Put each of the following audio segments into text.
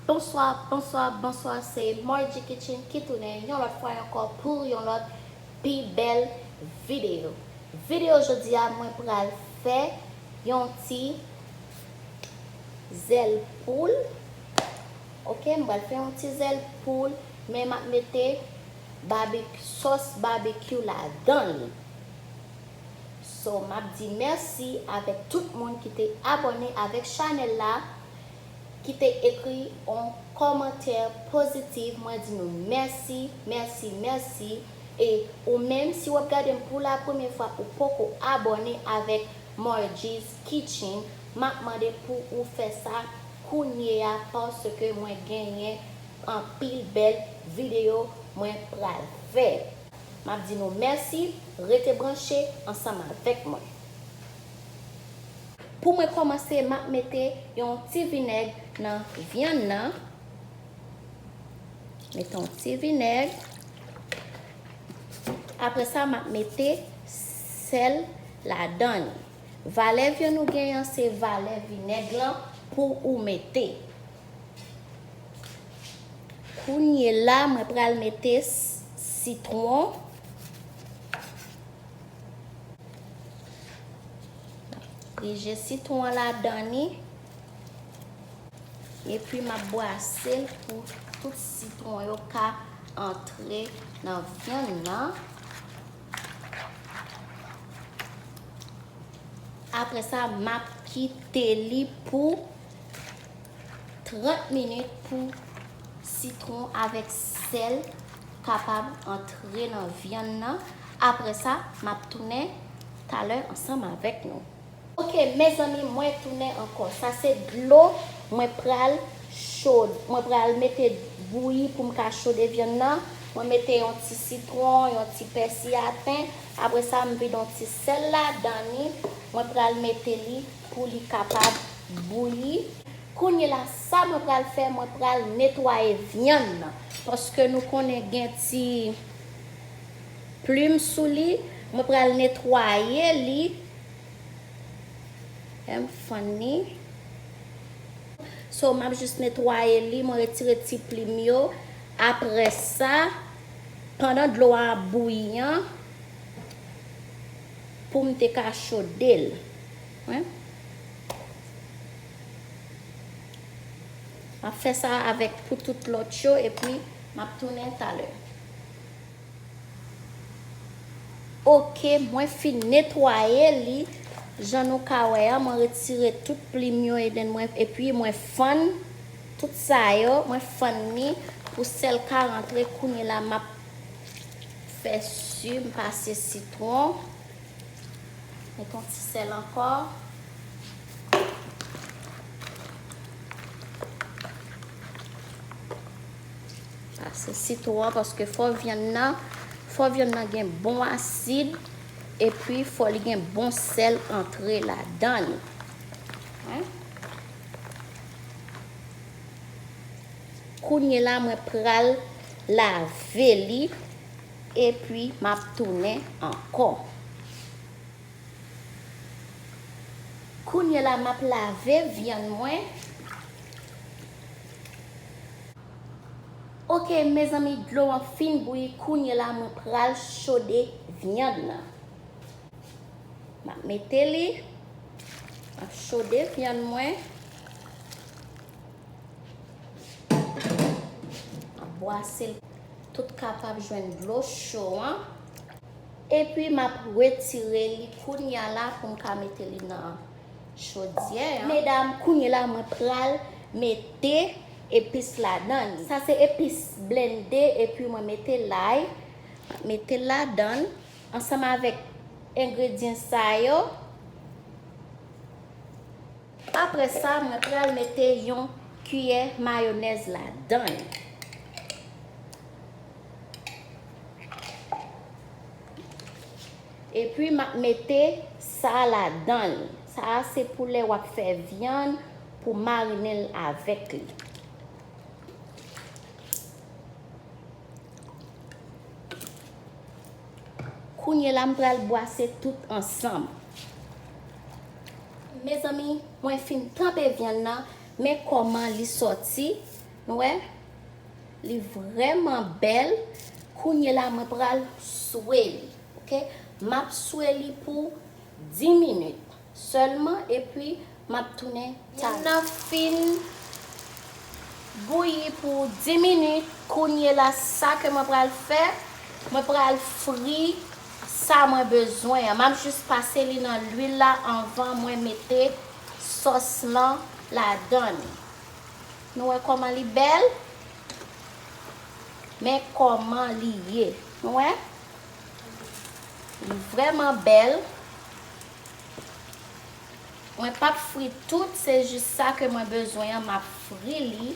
Bonswa bonswa bonswa se Margie Kitchen ki tounen yon lòt fwa ankò pou yon lòt pi bèl video video jodi a mwen pral fè yon ti zèl poul ok m pral fè yon ti zèl poul men map mete sòs babekyou ladanl so map di mèsi avèk tout moun ki te abòne avèk chanèl la ki te ekri yon kòmantè pozitif mwen di nou mèsi mèsi mèsi e ou menm si wap gadem pou la premye fwa ou poko abòne avèk Margie Kitchen map mande pou ou fè sa kounyeya paske mwen genyen anpil bèl video mwen pral fè map di nou mèsi rete branche ansanm avèk mwen. Pou mwen kòmanse map mete yon ti vinèg nan vyann nan mete yon ti vinèg aprè sa map mete sèl ladan li. Valè vyan ou gen an se valè vinèg lan pou ou mete. Kounye la mwen pral mete sitwon. Pije sitwon an ladan ni. E pi m ap bwase l pou tout sitwon yo ka antre nan vyann nan. Apre sa map kite li pou 30 minit pou sitron avèk sèl kapab antre nan vyann nan. Apre sa map tounen talè ansanm avèk nou. Ok mezanmi mwen tounen ankò sa se dlo mwen pral chod mwen pral mete bouyi poum ka chode vyann nan mwen mete yon ti sitron yon ti pèsi aten apre sa m vide yon ti sèl ladan li mwen pral mete li pou li kapab bouyi kounyela sa mwen pral fè mwen pral netwaye vyann nan paske nou konnen gen ti. Plim sou li mwen pral netwaye li em funny so map jis netwaye li mwen retire ti plim yo aprèsa pandan dlo a ap bouyi an poum te ka chodel wen map fè sa avèk pou tout lòt yo epi map tounen talè. Ok mwen fin netwaye li jan nou ka wè an mwen retire tout plim yo eden mwen epi mwen fann tout sa yo mwen fann li pou sèl ka rantre kounye la map fè su m pase sitron met yon ti sèl ankò Pase sitwon an paske fò vyann nan, fò vyann nan gen bon asid epi fò li gen bon sèl antre ladan li. Kounye la mwen pral lave li epi m ap tounen ankò. Kounye la m ap lave vyann mwen. Ok mezanmi dlo an fin bouyi kounye la mwen pral chode vyann nan map mete li map chode vyann mwen map bwasel tout kapab jwenn dlo cho an epi map retire li kounya la poum ka mete li nan chodyè an. Medam kounye la mwen pral mete epis ladan li. Sa se epis blende epi mwen mete lay, metel ladan ansanm avèk engredyen sa yo. Aprè sa mwen pral mete yon kiyè mayonèz ladan li. Epi map mete sa ladanl. Sa a se pou lè wap fè vyann pou marinenl avèk li. Kounye la m pral bwase tout ansanm. Mezanmi mwen fin tanpe vyann nan men kòman li sòti. Nou wè li vrèman bèl kounye la mwen pral swe li ok map swe li pou 10 minit sèlman epi map tounen tann nan fin bouyi pou 10 minit kounye la sa ke mwen pral fè mwen pral fri sa mwen bezwen an map jis pase li nan lwil la anvan mwen mete sòs lan ladann. Nou wè kòman li bèl? Men kòman li ye. Nou wè? Li vrèman bèl. Mwen pa p fri tout, se jis sa ke mwen bezwen an m ap fri li.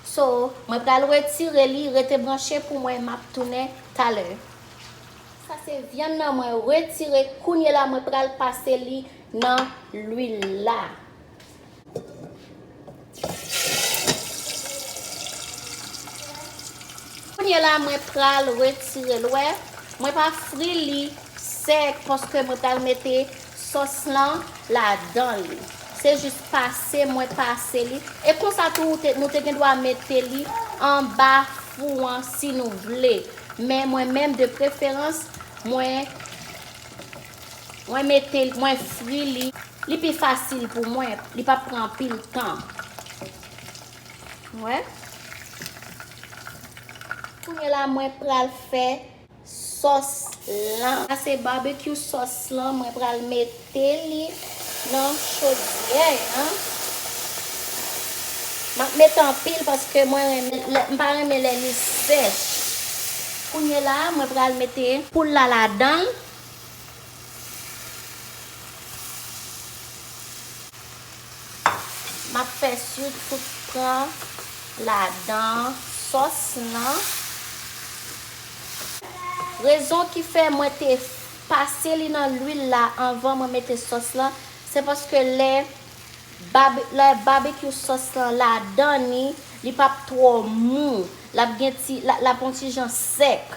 So, mwen pral retire li, rete branche pou mwen, m ap tounen talè. Sa se vyann nan mwen retire, kounyela mwen pral pase li nan lwil la. Kounye la mwen pral retire l wè mwen pa fri li sèk paske mwen pral mete sòs lan ladan li se jis pase mwen pase li e konsa tou nou te gendwa mete li anba fou an si nou vle men mwen menm de preferans mwen Mwen mete l, mwen fri li. Li pi fasil pou mwen, li pap pran anpil tan. Wè? Kounye la mwen pral fè sòs lan. Sa se barbecue sòs lan, mwen pral mete li nan chodyè an. Map mete anpil paske mwen renmen, m pa renmen lè li sèch. Kounye la mwen pral mete poul la ladan l, M ap fè siw tout pran ladan sòs lan. Rezon ki fè mwen te pase li nan lwil la anvan mwen mete sòs lan, se paske lè babekyou sòs lan ladan ni, li p ap twò mou. L ap gen ti, l ap on ti jan sèk.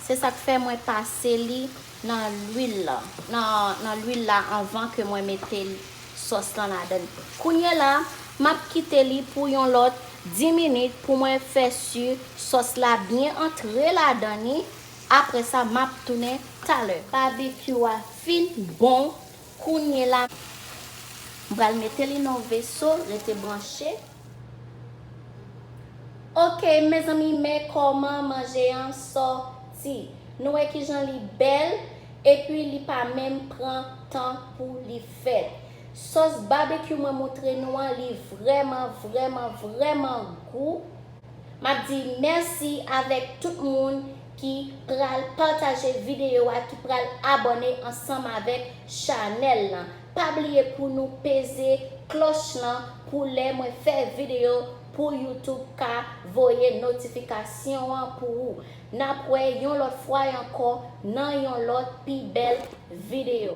Se sak fè mwen pase li nan lwil lan nan nan lwil la anvan ke mwen mete sòs lan ladann. Kounyela map kite li pou yon lòt 10 minit pou mwen fè su sòs la byen antre ladan ni apre sa map tounen talè. Babekyou a fin bon kounyela. M pral mete li nan yon veso rete branche. Ok mezanmi men kòman manje an sòti nou wè kijan li bèl epi li pa menm pran tan pou li fèt sòs babekyou mwen moutre nou an li vrèman vrèman vrèman gou map di mèsi avèk tout moun ki pral pataje video a ki pral abòne ansanm avèk chanèl lan Pa bliye pou nou peze kloch lan pou lè mwen fè video pou youtube ka voye notifikasyon an pou ou. Nap wè yon lòt fwa ankò nan yon lòt pi bèl video.